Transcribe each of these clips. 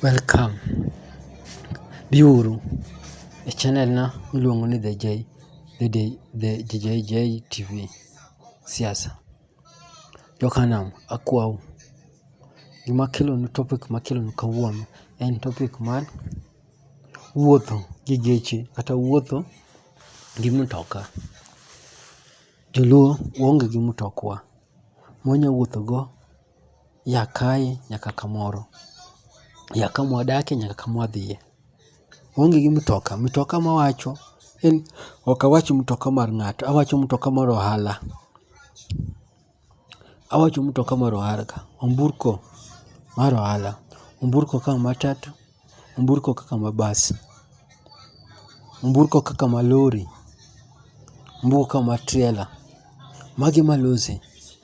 Welcome. Biuru e channel na miluongo ni The J, The J, The JJ TV. Siasa. Jokanam, akwau. Gima kelonu topic ma kelonu kawuono en topic mar wuotho gi geche kata wuotho gi mtoka. Joluo waonge gi mtokwa. Mwanya wuotho go. ya kae nyaka kamoro, ya kama wadakie nyaka kama wadhiye. Waonge gi mtoka, mtoka ma awacho en ok awach mtoka mar ng'ato, awacho mtoka mar ohala. Awacho mtoka mar ohala ka, omburko mar ohala, omburko ka matatu. Nyamburko kaka mabas, nyamburko kaka malori, nyamburko kaka matrela, magi ema losi.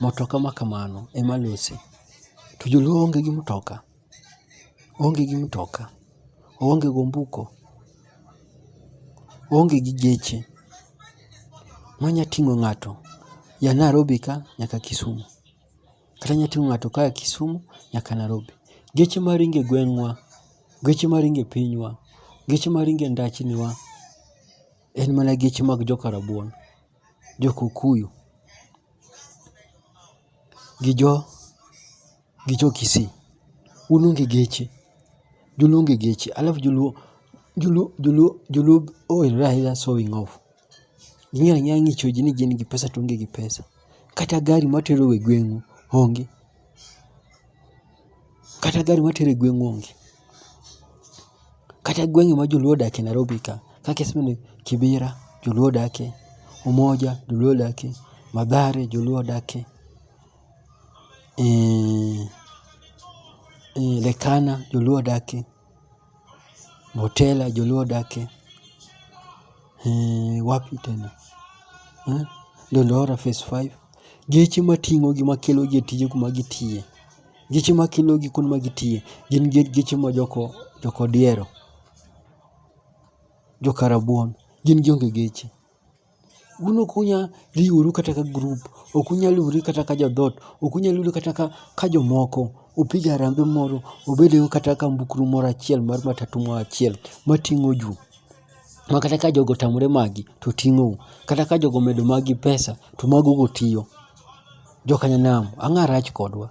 Motoka ma kamano ema losi. To joluo onge gi motoka, oonge gi motoka, oonge gi ombuko, oonge gi geche manya ting'o ng'ato ya Narobi ka nyaka Kisumu. Kata inyalo ting'o ng'ato ka a Kisumu nyaka Nairobi. Geche ma ringo e gweng'wa, geche ma ringo e pinywa, geche ma ringo e ndachni wa en mana geche mag joka Rabuon, jo Kukuyu gi jo gi jo Kisii. Un onge geche, joluo onge geche alafu joluo joluo joluo joluo ohere ahinya sowing off. Ging'eyo ang'eya ng'icho ji ni gin gi pesa to onge gi pesa. Kata gari matero e gweng'u onge. Kata gari matero e gweng'u onge. Kata gweng'e ma joluo odakie Nairobi ka, kaka iseme ni Kibira joluo odakie, Umoja joluo odakie, Mathare joluo odakie, Lekana joluo odakie. Motela joluo odake, eeh, wapi tena, eeh, Dandora phase five. Geche mating'ogi makelogi e tije kuma gitiye, geche makelogi kuond ma gitiye gin geche ma joko jokodiero, jokarabuon, gin gionge geche. un ok unyal riworu kata ka group, ok unyal riworu kata ka jodhoot, ok unyal riworu kata ka, ka jomoko upig harambee moro ubedgo kata ka mbukru moro achiel mar matatu moro achiel mating'o ju ma kata ka jogo otamore magi to ting'ou, kata ka jogo omedo magi pesa to mago go tiyo. Jokanyanam, ang'a rach kodwa.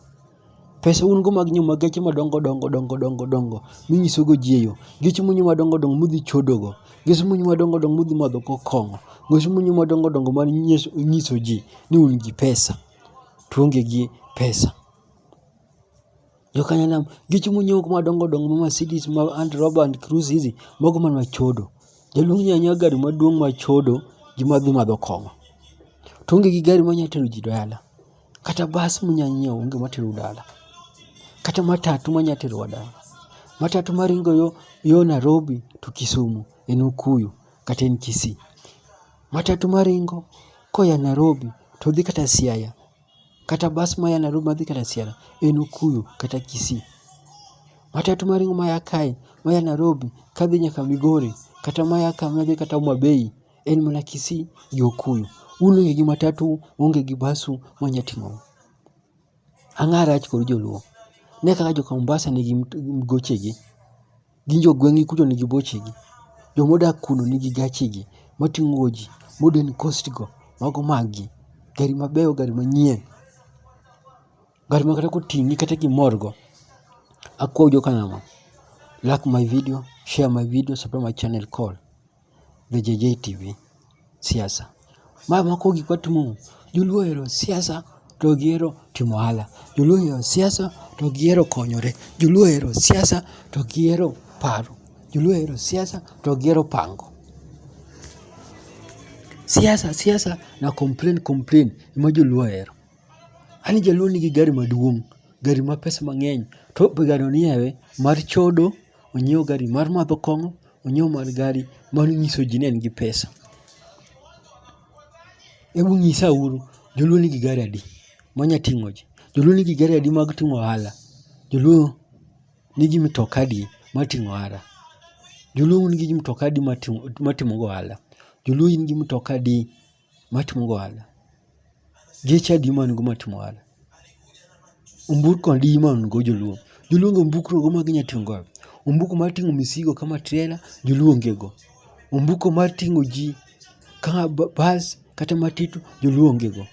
Pesa un go mag nyiewo mag geche madongo dongo dongo dongo dongo minyiso go ji e yo. Geche munyieo madongo dongo mudhi chodo go. Geche munyieo madongo dongo mudhi madho go kong'o. Geche munyieo madongo dongo mar nyiso ji ni un gi pesa to uonge gi pesa. Jokanyanam, geche munyieo go madongo dongo ma Mercedes ma Land Rover and Cruise hizi, mago mana chodo. Jaluo onyiewo anyiewa gari maduong' ma chodo gi madhi madho kong'o. To oonge gi gari monyalo tero ji dala. kata bas munya nyiewo onge matero dala kata matatu manya terowa dala matatu maringo yo, yo Nairobi to Kisumu en Okuyu kata en Kisii matatu maringo koya Nairobi to dhi kata Siaya kata bas maya Nairobi madhi kata Siaya en Okuyu kata Kisii matatu maringo maya kae maya Nairobi kadhi nyaka Migori kata maya ka madhi kata Homa Bay en mana Kisii gi Okuyu. Un onge gi matatu, uonge gi basu mwanya ting'ou. Ang'a rach kod joluo. Ne kaka joka Mombasa nigi gochegi. Gin jogweng'gi kucho nigi bochegi. Jomodak kuno nigi gachegi mating'o ji, modern coast go, mago maggi. Gari mabeyo, gari manyien. Gari ma kata koting'i kata kimorgo, akwayo joka nang'o, like my video, share my video, subscribe my channel, call. The JJ TV, siasa. Ma moko gik watimo, joluo ohero siasa to gihero timo ohala. Joluo ohero siasa to gihero konyore. Joluo ohero siasa to gihero paro. Joluo ohero siasa to gihero pango. Siasa siasa na complain complain ema joluo ohero. Ani jaluo nigi gari maduong', gari ma pesa mang'eny to be gari no ni ewe mar chodo. onyiew gari mar madho kong'o, onyiew mar gari mar nyiso ji ni en gi pesa. Hebu nyisa uru, joluo nigi gari adi manya ting'o ji? Joluo nigi gari adi mag ting'o ohala? Joluo nigi mitoka adi mar ting'o ohala? Joluo nigi mitoka adi mar timogo ohala? Joluo nigi mitoka adi matimo ohala geche adi man go matimo ohala omburko adi man go joluo joluo onge ombukro go maginya ting'o go ombuko mar ting'o misigo kama trela joluo onge go ombuko mar ting'o ji kama bas kata matitu joluo onge go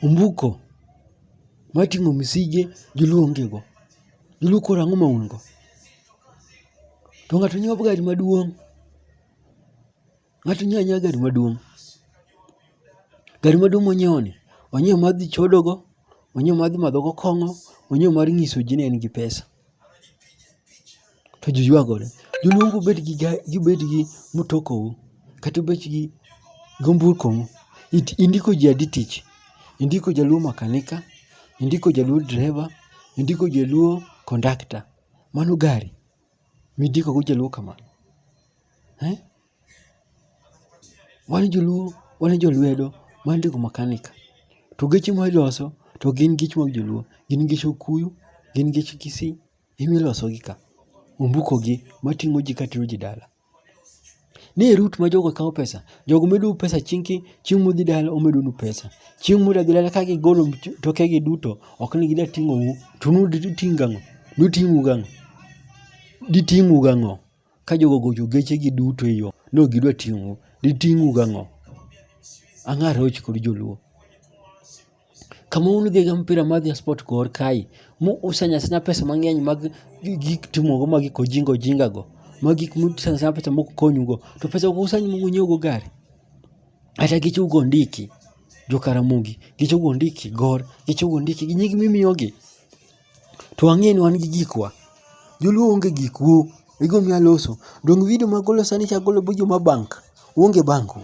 ombuko mar ting'o misige joluo onge go joluo koro ang'o ma un go to ng'ato nyiewo gari maduong' Ng'ato nyiewo anyiewa gari maduong'. Gari maduong' monyiewo ni, onyiewo mar dhi chodogo, onyiewo mar dhi madho go kong'o, onyiewo mar nyiso ji ni en gi pesa. To ji ywagore. Joluongo ubed gi gari, ubed gi mutokou, kata ubed gi gomburkomu. Indiko ji adi tich? Indiko jaluo makanika, indiko jaluo driver, indiko jaluo kondakta. Mano gari. Midiko go joluo kamano. Eh? Wan joluo, wan jolwedo, wan jogo makanika. To geche ma iloso to gin geche mag joluo, gin geche okuyu, gin geche kisii, ema ilosogi ka. Ombuko gi mating'o ji katero ji dala. Ne e route ma jogo kawo pesa. Jogo medou pesa chieng' ki, chieng' mudhi dala omedonu pesa. Chieng' mudak dala ka gigolo tokegi duto, ok ni gida ting'ou, to un to uting' gang'o? Duting'u gang'o? Diting'u gang'o? Ka jogo ogocho gechegi duto e yo, ni ok gidwa ting'ou, diting'u gang'o? Ang'o aroch kod joluo. kama un gi ga mpira mar ja sport kor kae mu usanyasna pesa mang'eny mag gik timogo mag gik ojinga ojinga go mag gik musanyasna pesa mok konyugo to pesa go usanyi mok unyiewogo gari kata gicho ugo ndiki jo karamogi gicho ugo ndiki gor gicho ugo ndiki gi nying mimiyogi to ang'e ni wan gi gikwa joluo onge gik wo igo miya loso dong video magolo sani chagolo bujo ma bank uonge bank u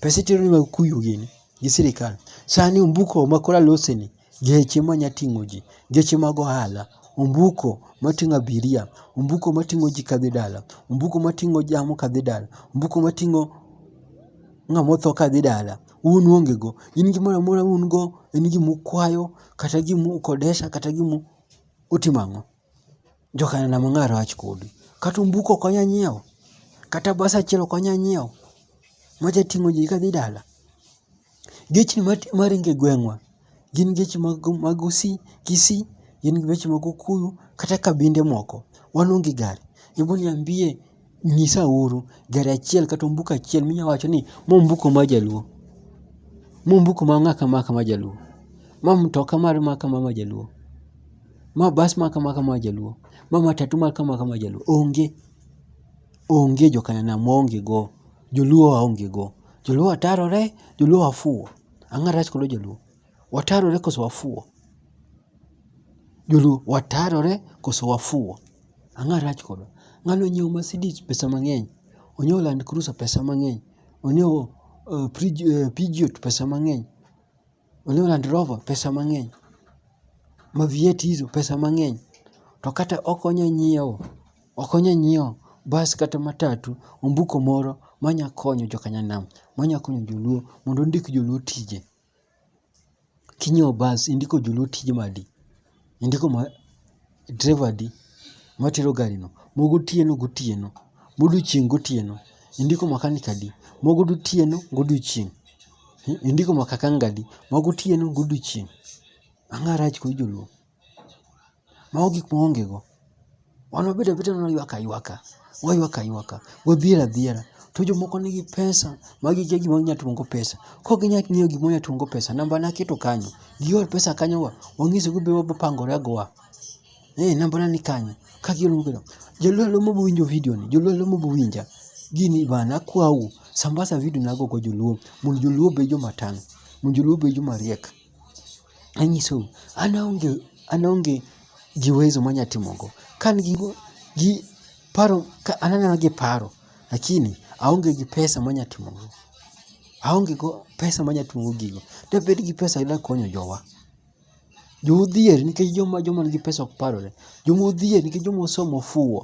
pesa itero ni mag kuyu gini gi sirikal. Sani ombuko makoro aloseni, geche manya ting'o ji, geche mag ohala, ombuko mating'o abiria, ombuko mating'o ji kadhi dala, ombuko mating'o jamni kadhi dala, ombuko mating'o ng'ama otho kadhi dala, un uonge go. In gimoro amora un go en gima ukwayo kata gima ukodesha kata gima utimo ang'o? Jokanena mang'a rach kodi. Kata ombuko ok onya nyiewo. Kata bas achiel ok onya nyiewo. Maja ting'o ji kadhi dala. Geche maringo e gweng'wa gin geche mag usi, kisii, gin geche mag okuyu kata kabinde moko. Wan onge gari. Hebu niambie Nyisauru gari achiel kata ombuko achiel minya wacho ni ma ombuko mar jaluo, ma ombuko ma ng'a kama kama jaluo, ma mtoka mar ma kama ma jaluo, ma bas ma kama kama jaluo, ma matatu ma kama kama jaluo. Onge, onge jo Kenya nam waonge go, joluo waonge go. Joluo atarore, joluo afuwo. Ang'o marach kod joluo? Watarore koso wafuwo? Joluo, watarore koso wafuwo? Ang'o rach kodwa? Ng'ani onyiewo Mercedes pesa mang'eny, onyiewo Land Cruiser pesa mang'eny, onyiewo uh, Prij, uh, Peugeot pesa mang'eny, onyiewo Land Rover pesa mang'eny, Mavieti hizo pesa mang'eny, to kata ok onya nyiewo, ok onya nyiewo bas kata matatu, ombuko moro manya konyo joka Nyanam, manya konyo joluo mondo ondik joluo tije. Kinyiewo bas indiko joluo tije madi? Indiko ma driver adi matero gari no? Mogotieno gotieno, modiochieng' gotieno, indiko makanik adi? Mogotieno godiochieng', indiko makakanga adi? Magotieno godiochieng'. Ang'a rach kuom joluo. Mago gik ma waonge go. Wan wabedo abeda mana waywak aywaka, waywak aywaka, wadhier adhiera. To jomoko nigi pesa ma gikia gima ginyalo timo go pesa. Ka ok ginyal ng'eyo gima ginyalo timo go pesa, namba ne aketo kanyo. Gior pesa kanyo wa, wang'ise go be wapangore agowa. Eh, namba na ni kanyo. Ka giol mobiro. Joluo aluo mobo winjo video ni, joluo aluo mobo winja. Gini bana akwau, sambasa video na go go joluo. Mondo joluo obe joma tang', mondo joluo obe joma riek. Anyisou, an aonge, an aonge gi uwezo manya timogo. Ka an gi, gi paro, ka an aneno gi paro, lakini aonge gi pesa manya timogo. Aonge go pesa manya timogo gigo. Dabed gi pesa ayuda konyo jowa. Joma odhier nikech joma joma nigi pesa ok parore. Joma odhier nikech joma osomo ofuwo.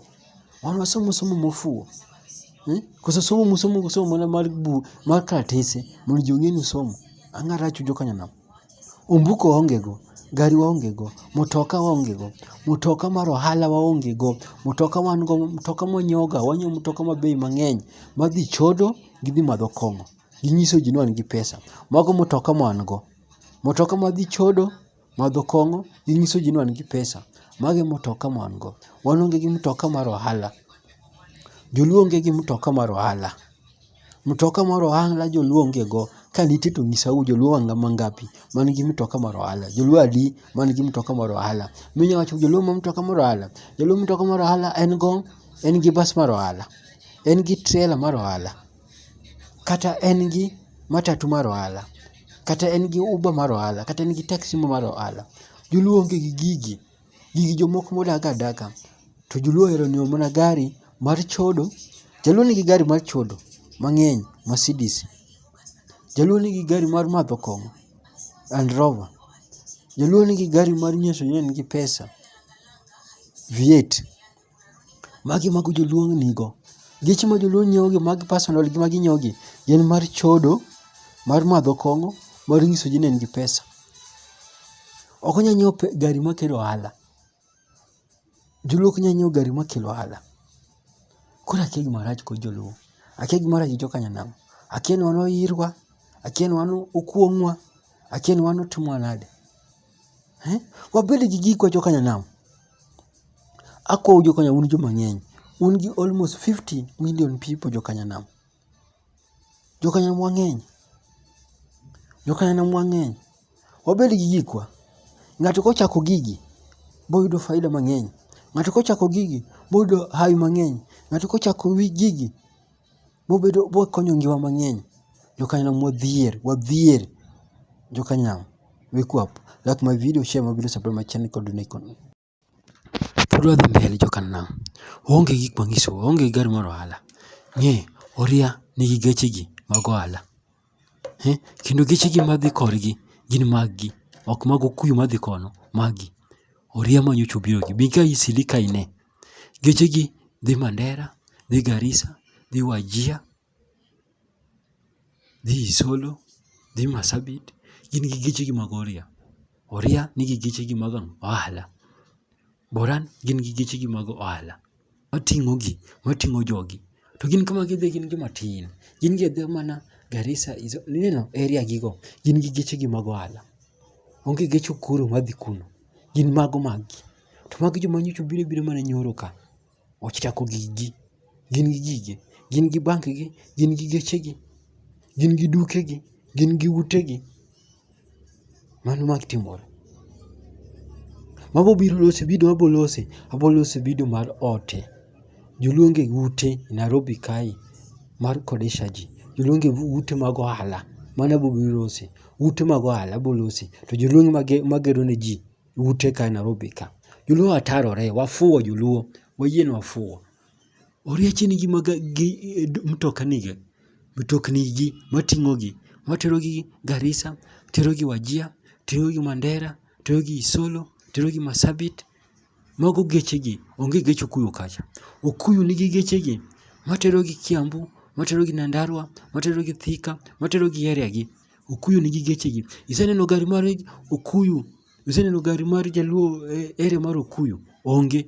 Wan wasomo somo mofuwo. Eh? Koso somo musomo kusomo mana mar bu mar karatese mondo ji ong'e ni usomo. Ang'o marach ujo kanyanam? Ombuko waonge go, gari waonge go, mutoka waonge go, mutoka mar ohala waonge go, mutoka wan go, mutoka mwanyoga, wanyiewo mutoka ma bei mang'eny madhi chodo gi dhi madho kong'o. Ginyiso ji ni wan gi pesa. Mago mutoka ma wan go. Mutoka madhi chodo Madho kong'o gi nyiso ji ni wan gi pesa. Mago e mtoka ma wan go. Wan onge gi mtoka mar ohala. Joluo onge gi mtoka mar ohala. Mtoka mar ohala joluo onge go. Ka nitie to nyisa u joluo mangapi man gi mtoka mar ohala. Joluo adi man gi mtoka mar ohala. Minya wacho joluo ma mtoka mar ohala. Joluo mtoka mar ohala en go en gi bas mar ohala. En gi trela mar ohala. kata en gi matatu mar ohala, kata en gi uber mar ohala, kata en gi taxi moro mar ohala, joluo onge gi gigi. Gigi jomoko modak adaka. To joluo ohero nyiewo mana gari mar chodo. Jaluo nigi gari mar chodo mang'eny, Mercedes. Jaluo nigi gari mar madho kong'o, Land Rover. Jaluo nigi gari mar nyiso ni en gi pesa, V8. Magi mago joluong nigo. Geche ma joluo nyiewo gi mag personal gi ma ginyiewo gi gin mar chodo, mar madho kong'o, mar nyiso ji ni en gi pesa. Ok onyal nyiewo gari makelo ohala. Joluo ok nyal nyiewo gari makelo ohala. Koro akia gima rach kod joluo. Akia gima rach gi joka nyanam. Akia ni wan oyirwa. Akia ni wan okuong'wa. Akia ni wan otimwa nade. Eh? Wabed gi gikwa joka nyanam. Akwou joka nyanam un joma ng'eny. Un gi almost 50 million people joka nyanam. Joka nyanam wang'eny. Joka nyanam wang'eny. Wabed gi gikwa. Ng'ato kochako gigi, boyudo faida mang'eny. Ng'ato kochako gigi, boyudo hawi mang'eny. Ng'ato kochako wi gigi, Bobedo bokonyo ngiwa mang'eny. Jokanyna modhier, wadhier. Jokanyam, wake up. Like my video, share my video, subscribe my channel, kod donate kod. Pod wadhi mbele jokanyam. Waonge gik manyiso, waonge gari mar ohala. Ng'e, oria nigi gechegi mag ohala. eh, kendo gechegi madhi korgi gin maggi ok mag okuyu madhi kono maggi oria ma nyocha obirogi bi ka isili ka ine gechegi dhi mandera dhi garisa dhi wajia dhi isolo dhi masabit gin gi gechegi mag oria oria nigi gechegi mag ohala boran gin gi gechegi mag ohala mating'o gi, mating'o jogi. To gin kama gidhi gin joma tin. Gin gi adhiya mana Garissa is ineno area gi go. Gin gi geche gi mag ohala. Onge gech Ukuru ma dhi kuno. Gin mago mag gi. To magi joma nyocha obiro abira mana nyoro ka. Ochako gig gi. Gin gi gige. Gin gi bank gi. Gin gi geche gi. Gin gi duke gi. Gin gi ute gi. Mano ma timore. Mago biro loso video ma abiro loso, abiro loso video mar ote. Joluonge ute Nairobi kae mar kodesha ji. Joluonge ute mag ohala. Mano abiro biro loso. Ute mag ohala abiro loso. To joluonge magero ne ji ute ka Nairobi ka. Joluo watarore, wafuwo joluo. Wayie ni wafuwo. Oriache nigi maga gi eh, mtokaniga, mtoknigi mating'ogi, materogi Garissa, terogi Wajia, terogi Mandera, terogi Isolo, terogi Masabit. Mago gechegi, onge gech Okuyu kacha. Okuyu nigi gechegi materogi Kiambu, materogi Nyandarua, materogi Thika, materogi area gi. Okuyu nigi gechegi. Iseneno gari mar Okuyu, iseneno gari mar Jaluo eh, area mar Okuyu? Onge.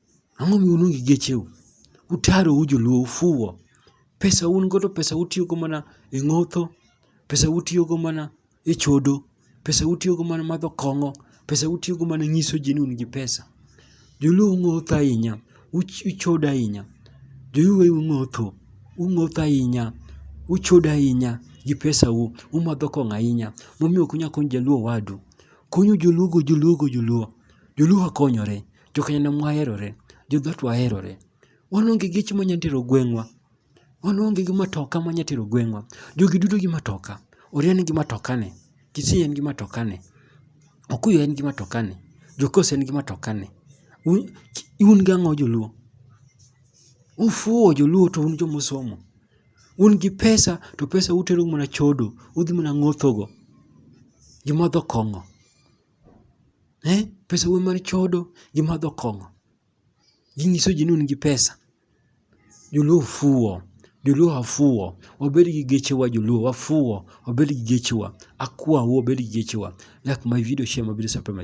Ang'o mi uluongo gi gecheu? Utaro u joluo ufuwo. Pesa un go to pesa utiyogo mana e ng'otho, pesa utiyogo mana e chodo, pesa utiyogo mana madho kong'o, pesa utiyogo mana nyiso ji ni un gi pesa. Joluo ung'otho ahinya, uchodo ahinya. Joluo ung'otho, ung'otho ahinya, uchodo ahinya gi pesau, umadho kong'o ahinya. Momiyo ok unyal konyo jaluo owadu. Kony joluogo joluogo joluo, joluo ok konyore. Jokenyana mwaherore, jodhot waherore. Wan onge geche manyalo tero gweng'wa. Wan onge gi matoka manyalo tero gweng'wa. Jogi duto gi matoka. Oria nigi matokane. Kisii en gi matokane. Okuyu en gi matokane. Jokos en gi matokane. Un gi ang'o joluo? Ufuwo joluo to un joma osomo. Un gi pesa to pesa utero mana chodo. Udhi mana ng'othogo. Joma odho kong'o. eh? pesa wuon mar chodo gi madho kong'o ginyiso ji ni un gi pesa joluo fuwo joluo wafuwo wabed gi gechewa joluo wafuwo wabed gi gechewa akwawu wabed gi gechewa lak my video share mabiro sapema